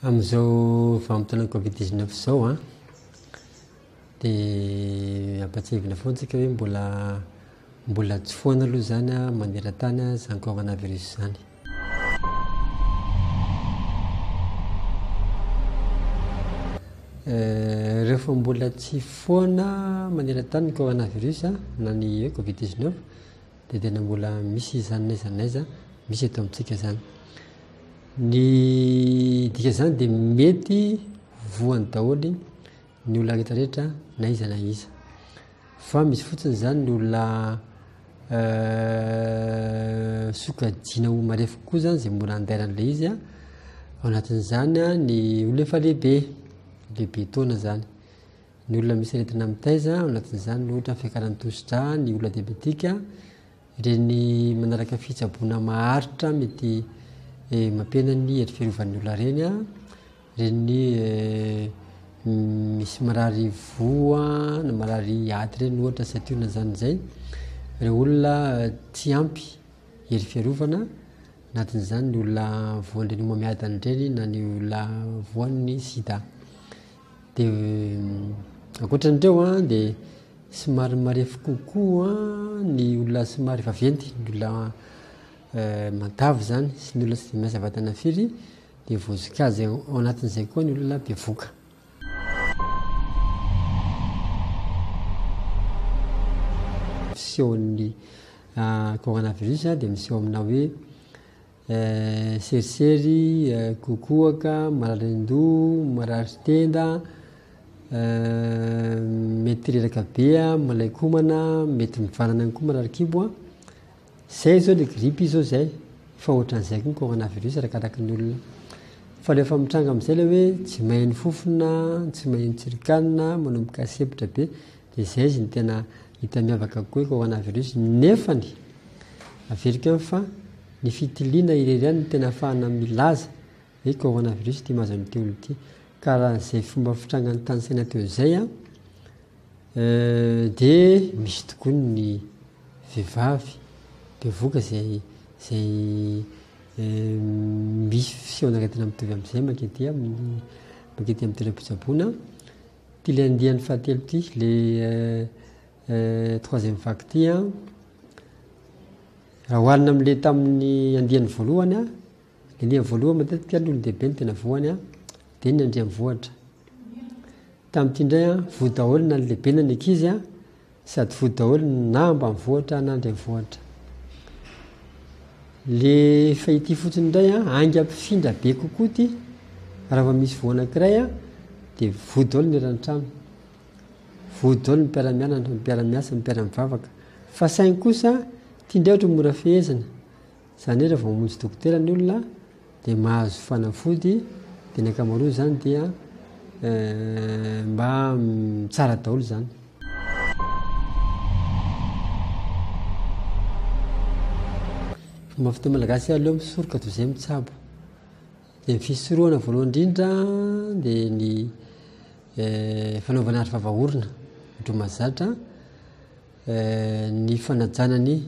Amin'izao vanim-potoanan'ny covid dix neuf izao an, dia ampahatsiahivina foana antsika hoe mbola mbola tsy foana aloha izany an maneran-tany izany coronavirus izany. Rehefa mbola tsy foana maneran-tany ny coronavirus na ny hoe covid 19 dia tena mbola misy izany n'aiza n'aiza misy eto amintsika izany. Ny dika izany dia mety voany daholo ny olona rehetra rehetra na iza na iza fa misy fotsiny zany ny olona sokajiana ho marefo kokoa zany zay mora andairan'ilay izy a ao anatin'izany a ny olona efa lehibe lehibe taona zany ny olona misy aretina mitaiza ao anatin'izany ny ohatra ny fiakaran'ny tosidra ny olona diabetika ireny manaraka fitsaboana maharitra mety mampihena ny hery fiarovan'ny olona ireny a Reny misy marary voa na marary aty reny ohatra satio na zany zay reo olona tsy ampy hery fiarovana anatin'izany ny olona voan'ireny homamiadana ireny na ny olona voan'ny sida de ankoatran'ireo a de somary marefo kokoa ny olona somary vaventy ny olona matavy zany sy ny olona tsy de miasa vatana firy Dia voasika azy ao anatin'izay koa ny olona bevoka. Fisehon'ny coronavirus dia miseho amina hoe serisery, kokoaka, mararin-doha, marary tenda, mety reraka be, malaikomana, mety mivanana ihany koa marary kibo. Zay zao le grippe zao zay efa otran'izay koa ny coronavirus araka araky ny olona fa rehefa mitranga amizay le hoe tsy mahen'ny fofona tsy mahen'ny tsirikanina manomboka sepotra be de zay izy ny tena hita miavaka kokoa ny coronavirus nefany averiko any fa ny fitiliana irery ihany ny tena afahana milaza hoe coronavirus ty mahazo an'ity olona ty ka raha zay fomba fitrangany tany saina teo zay an Dia misy tokoa ny vehivavy bevoka izay izay misy fisehoana aretina mitovy amin'izay mankety amin'ny mankety amin'ny toeram-pitsaboana. Ity ilay andiany fahatelo ity, ilay troisième vague ity an. Raha oharina amin'ilay tamin'ny andiany voalohany an, Elia voaloha matetika ny olon-dehibe ny tena voany a dia ny andriamvohitra tamin'ity indray a voa daholo na ny lehibe na ny ankizy a sady voa daholo na ambanivohitra na andriamvohitra le fa ity fotsiny indray a aingampifindra be kokoa ty raha va misy voana kiray a dia voa daholo ny eran-trano voa daholo ny mpiaramianatra ny mpiaramiasa ny mpiaramivavaka fa saingy kosa ty indray ohatra mora fehezina Zany hoe raha vao mamonjy dokotera ny olona dia mahazo fanafody dia ny ankamaroany zany dia mba tsara daholo zany. Fomba fiteny malagasy hoe aleo misoroka toy izay mitsabo. Dia ny fisorohana voalohany indrindra dia ny eh, fanaovana aro vava orona, ny dromazatra. ny fanajana ny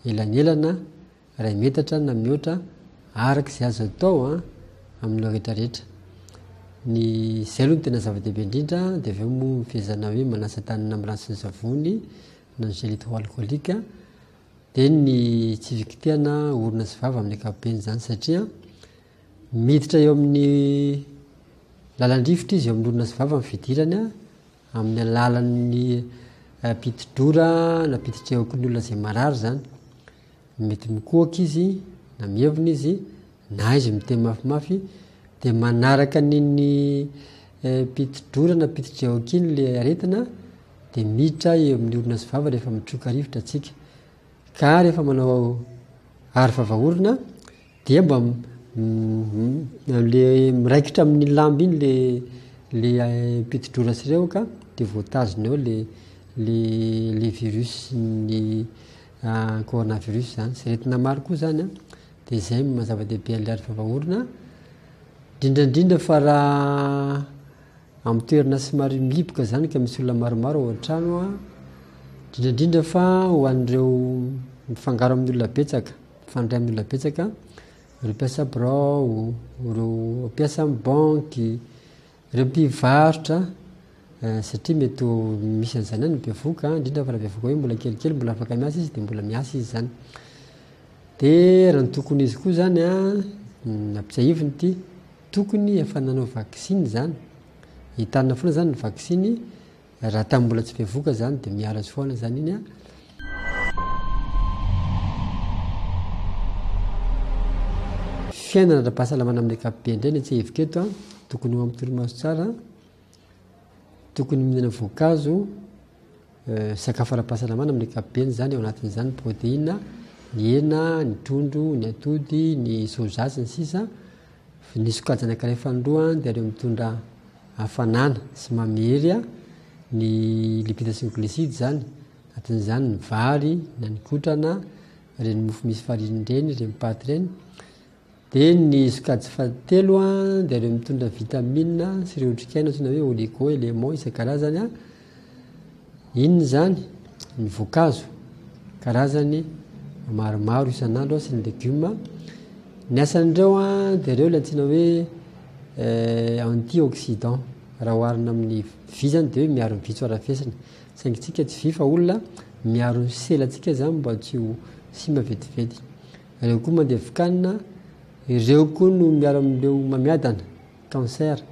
elanelana iray metatra na mihoatra araka izay azo atao an amin'ireo rehetra rehetra ny izay aloha ny tena zava-dehibe indrindra dia avy eo moa ny fehezana hoe manasa tany na miranty sy ny savony na ny gel hydroalcoolique dia ny tsy fikitihana orona sy vava amin'ny ankapobeny izany satria miditra eo amin'ny lalan-drivotra izy eo amin'ny orona sy vava ny fidirany an amin'ny alalan'ny pitidrora na pititrehoky ny olona izay marary izany. Mety mikohaka izy na mievina izy na izy miteny mafimafy dia manaraka an'iny eh, pitidrora na pititrehoky iny le aretina dia miditra eo amin'ny orona sy vava rehefa mitroka rivotra atsika. Ka rehefa manao aro vavaorona Dia mba le miraikitra amin'ny lamba iny le le pitidrora sy ireo ka dia voatazona eo le le le virus ny corona virus zany sy aretina maro koa zany an dia zay no maha zava-dehibe an'ilay ady fampahoana indrindra indrindra fa raha amin'ny toerana somary mihiboka zany ka misy olona maromaro ao an-trano an indrindra indrindra fa ho an'ireo mifangaro amin'ny olona betsaka Mifandray amin'ny olona betsaka, ireo mpiasa birao, ireo mpiasa amin'ny banky, ireo mpivarotra, eh, satria mety ho misy an'izany any bevoka, indrindra fa raha bevoka hoe mbola kelikely, mbola afaka miasa izy, dia mbola miasa izy zany. Dia raha ny tokony izy koa zany a, nampitsiahiviny ity, tokony efa nanao vaksiny zany, entanina foana zany ny vaksiny, Raha tamin'ny mbola tsy bevoka zany dia miala soana zany iny a. Fiainana ara-pahasalamana amin'ny ankapobeny indray ny atsahiviko eto a, tokony ho amin'ny torimaso tsara, tokony mihinana voankazo, sakafo ara-pahasalamana amin'ny ankapobeny zany ao anatin'izany ny protéine, ny hena, ny trondro, ny atody, ny soja sy ny sisa. Ny sokajina ankiray fanindroa dia ireo mitondra hafanana sy mamery ny lipida sy ny glisida izany, anatin'izany ny vary na ny kotrana, ireny mofo misy farinina ireny, ireny paty ireny. Dia ny sokajy fahatelo dia ireo mitondra vitamina sy ireo otrikaina antsoina hoe oligo, éléments isan-karazany. Inona izany? Ny voankazo, karazany maromaro isan'andro sy ny legioma. Ny asan'ireo dia ireo ilay antsoina hoe antioxydant. Raha oharina amin'ny vy izany dia hoe miaro ny vy tsy ho arafesina. Saingy isika tsy vy fa olona, miaro ny selantsika izany mba tsy ho simba vetivety. Ireo koa mandevoka hanina, ireo koa no miaro amin'ireo mamiadana, cancer.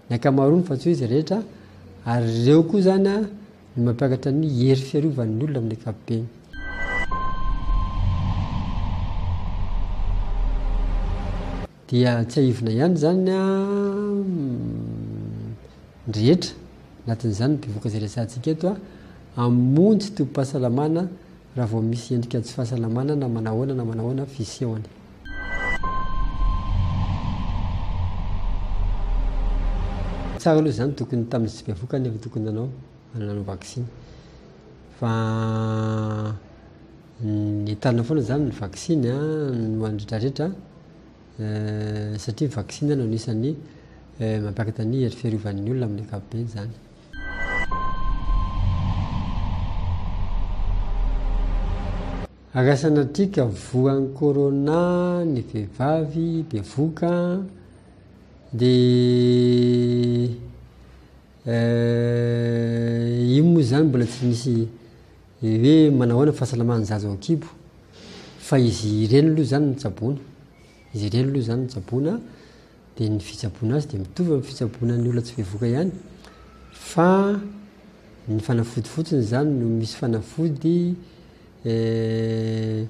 ny ankamaroany fa tsy hoe izy rehetra ary ireo koa izany a no mampiakatra ny hery fiarovan'ny olona amin'ny ankapobeny. Dia tsiahivina ihany izany a ny rehetra anatin'izany ny mpivoaka izay resahantsika eto a hamonjy tobim-pahasalamana Raha vao misy endrika tsy fahasalamana na manahoana na manahoana fisehony. Tsara aloha izany tokony tamin'izy tsy bevoka nefa tokony nanao nanao vaksiny. Fa ny entanina foana izany ny vaksiny no an'ny rehetrarehetra satria ny vaksiny no anisan'ny mampiakatra ny hery fiarovan'ny olona amin'ny ankapobeny izany. Rasanadriaka voan'ny corona ny vehivavy bevoka dia io moa izany mbola tsy misy hoe manao ahoana ny fahasalaman'ny zaza ao an-kibo fa izy ireny aloha izany no tsaboina, izy ireny aloha izany no tsaboina dia ny fitsaboana azy dia mitovy amin'ny fitsaboana ny olona tsy bevoka ihany fa ny fanafody fotsiny izany no misy fanafody eh,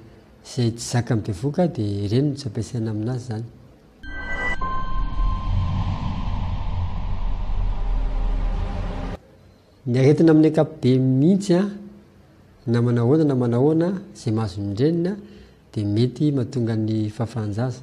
izay tsy zaka ny bevoka dia ireny no tsy ampiasaina aminazy izany ny aretina amin'ny akapobe mihitsy a na manahoana na manahoana izay mahazo ny renina dia mety mahatonga ny fahafahanjaza